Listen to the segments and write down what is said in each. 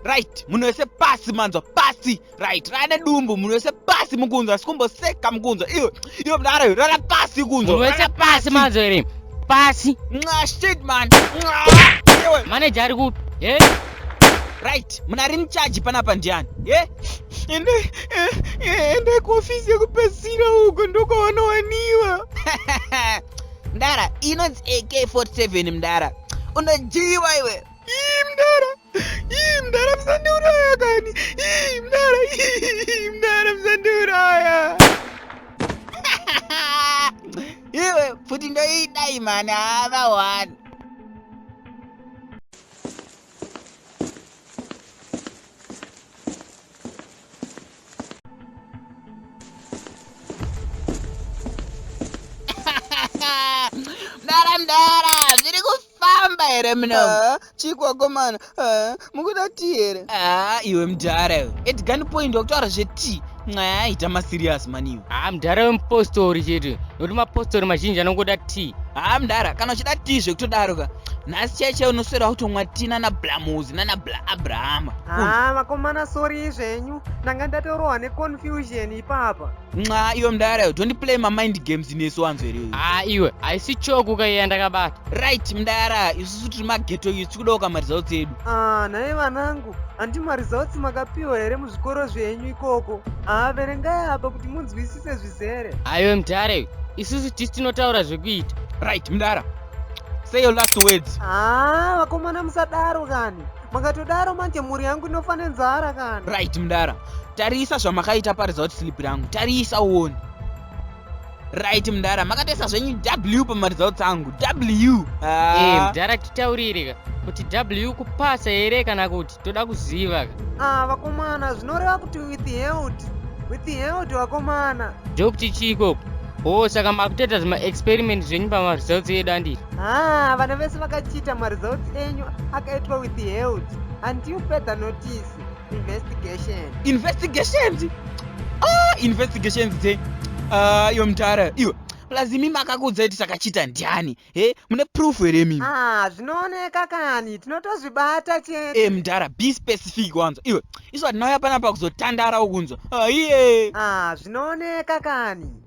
right munhu wese pasi manzwa pasi right rane dumbu munhu wese pasi mukunzwa sikumboseka mukunzwa iyo iyo mdara iyo rara pasi kunzwa munhu wese pasi manzwa here pasi nxa shit man nxa manager ari kupi hey. right munari muchaji panapa ndiani ye ende ende kuofisi yekupedzisira uko ndokwavanowanikwa mdara inonzi ak47 mdara unojiwa iwe ii mdara ii mdara musandiuraya kani ii mdara ii mdara musandiuraya iwe futi ndoidai mani hava wani here mno ah, chikwakomana ah, mukuda ti here ah, iwe mdhara iwe edgani point wakutaura zveti nyaya yaita maserious maniyo haa mdhara wemupostori chete nokuti mapostori mazhinji anongoda t haa mdhara kana uchida t zvekutodaro ka nhasi chai chai unoswera kutomwa ti nana blamuzi nana bla abrahama haa vakomana sori zvenyu ndanga ndatorohwa neconfusion ipapa nxa iwe mdhara yo don't play mamind games nesu wanzo here haa iwe haisi choku ka iya ndakabata right mdhara isusu tiri mageto yu tikuda ukamaridzao dzedu haa nhaye vanangu Handi mari zautsi makapiwa here muzvikoro zvenyu ikoko? Haa verengai apa kuti munzwisise zvizere. Aiwe mdare, isusu tisi tinotaura zvekuita. Right mdara, say your last words. Haa vakomana musadaro kani. Makatodaro manje mhuri yangu inofa nenzara kani. Right mdara, tarisa zvamakaita pari zauti slip rangu, tarisa uone. right mdara makatoisa zvenyu w pamaresults angu w ah. hey, eh, mdara titaurire ka kuti w kupasa here kana kuti toda kuziva ka ah, vakomana zvinoreva kuti with health with health vakomana ndokuti chii ikoko o oh, saka makutoita zvemaexperiment zvenyu pamaresults edu anditi ah, vana vese vakachiita maresults enyu akaitwa with health until further notice investigation investigations ah investigations dze ah iyo mtara iyo plus imi makakuudzai kuti takachita ndiani he mune proof here mimi ah zvinooneka kani tinotozvibata chete e mdara be specific wanzwa iwe isu hatinauya panapa kuzotandara ukunzwa aiye ah zvinooneka kani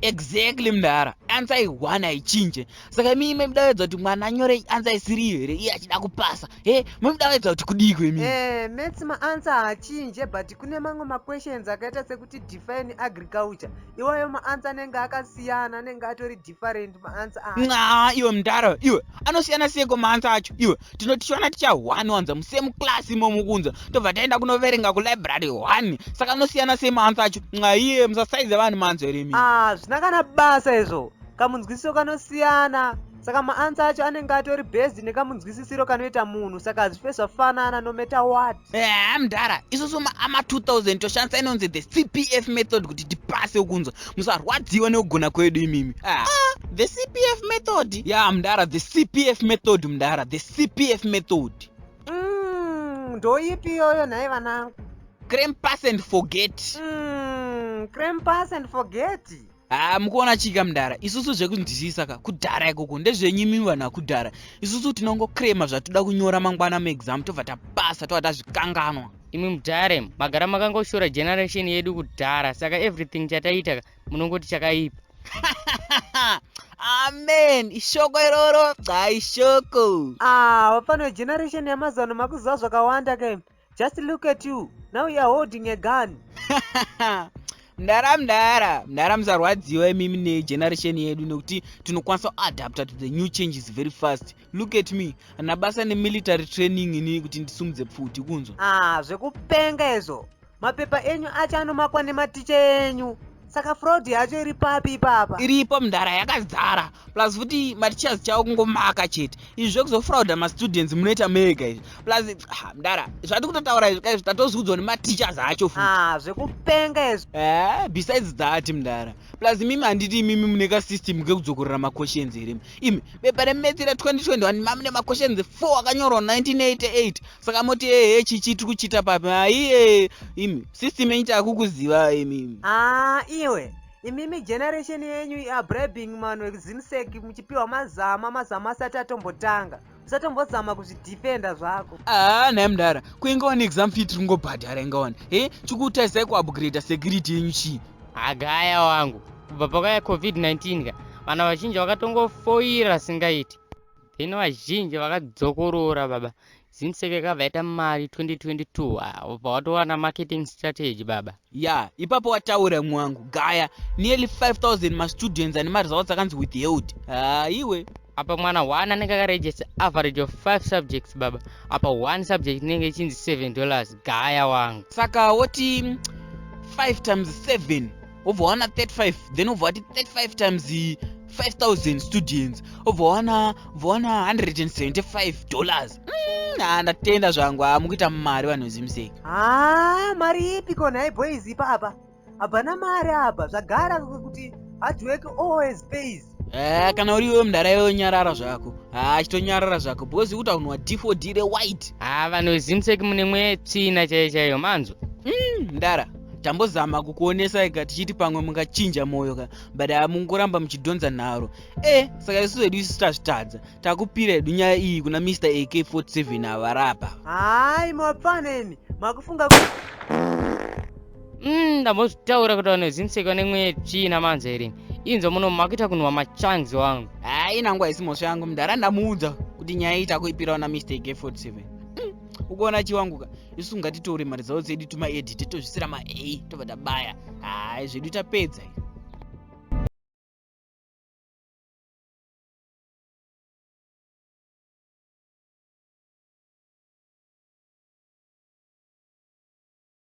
exactly mdara ansa ihwana haichinje saka mii maidavedza kuti mwana anyore ansa isiri iyo here iye achida kupasa he maidavedza kuti kudiko imi eh, mats maansa haachinje but kune mamwe maquestions akaita sekuti define agriculture iwayo maansa anenge akasiyana anenge atori different maansa aa iwe mdara iwe anosiyana seko maansa acho iwe tinoti tichiwana ticha one wanza musame class imomo kunza tobva taenda kunoverenga kulibrary one saka anosiyana sei maansa acho nxaiye musasaize vanhu maanzo here mi ah, zvina kana basa izvo kamunzwisiso kanosiyana saka maansa acho anenge atori based nekamunzwisisiro kanoita munhu saka hazvife zvafanana nometa wat Ehe mdara, isusu maama 2000 toshandisa inonzi the CPF method kuti tipase ukunzwa. Musarwadziwa nekugona kwedu imimi. Ah. ah the CPF method. Yeah, mdara, the CPF method mdara, the CPF method. Mm, ndoipi iyoyo nhai vanangu? Creme pass and forget. Mm, creme pass and forget. haa ah, mukuona chika mdara isusu zvekunzwisisa ka kudhara ikoko ndezvenyu imi vanhu vakudhara isusu tinongocrema zvatoda kunyora mangwana muexam tobva tapasa tova tazvikanganwa imi mudhare magara makangoshora generation yedu kudhara saka everything chataiita ka munongoti chakaipa amen ishoko iroro dza ishoko ah, vapano generation yamazuva no makuziva zvakawanda ke Just look at you. Now you are holding a gun. mdara mdara mdara musarwadziwa imimi negeneration yedu nekuti tinokwanisa kuadapta to the new changes very fast look at me ana basa nemilitary training ini kuti ndisumudze pfuti kunzwa ah zvekupenga izvo mapepa enyu acho anomakwa nematicha enyu saka fraud yacho iri papi ipapa iripo mdara yakazara plus futi mateachers chavo kungomaka chete izvi zvekuzofrauda mastudents munoita mega izvi plus ah, mdara zvati kutotaura izvi kaizvi tatoziudzwa nemateachers acho futi ah, zvekupenga izvi eh, besides that mdara plus imimi handiti imimi mune kasystem kekudzokorera maquestions here imi bepa remetsira 2021 mamune maquestions 4 akanyorwa 1988 saka moti ehe chichi tiri kuchiita papi aiye imi system yenyu takukuziva imi aa iwe imimi generation yenyu iabribing man wekuzimsek muchipiwa mazama mazama asati atombotanga usatombozama kuzvidefenda zvako aa nhai mudhara kuinga wani exam fee tiri kungobhadhara inga wani he chikutarisai kuupgrade security yenyu chii agaya wangu kubva pakauya covid-19 ka vana vazhinji vakatongofoira singaiti then vazhinji vakadzokorora baba Zimsec yakabva yaita mari 2022 ah, ubva watowana marketing strategy baba. Ya, ipapo wataura imwe wangu. Gaya, nearly 5000 mastudents ane maresults akanzi withheld. Ah, iwe. Apa mwana one anenge akaregister average of 5 subjects baba. Apa one subject inenge ichinzi 7 dollars. Gaya wangu. Saka woti 5 times 7 wobva wawana 35 then wobva wati 35 times 5000 students wobva wawana 175 dollars mm, ha ndatenda zvangu ha mukuita mari vanhu vezimuseki ha mari ipi ko nhai boys ipa apa hapana mari apa zvagara kuti hard work always pays Eh, kana uri iwe mdara iwe nyarara zvako haa ah, chitonyarara zvako because ikuta unwa d4d rewhite haa ah, vanhu vezimsek mune mweya yetsvina chaiyo chaiyo manzwa hmm, mdara tambozama kukuonesai ka tichiti pamwe mungachinja mwoyo ka but hamungoramba ah, muchidhonza nharo e eh, saka isu vedu isu tazvitadza takupira hedu nyaya iyi kuna mr ak47 avarapa hai mapfaneni makufunga ku Mm, ndambozvitaura kuti vanhu vezimuseki vane mweya yetsvina manza here inzwa muno makuita kunhuwa machangs wangu haa inangu haisi mhosva yangu mdhara ndamuudza kuti nyaya iyi takuipirawo namistake 47 mm, ukuona chiwanguka isu ngatitore mari dzavo dzedu tumaedite tozvisira ma a tobva tabaya haa zvedu tapedza iyo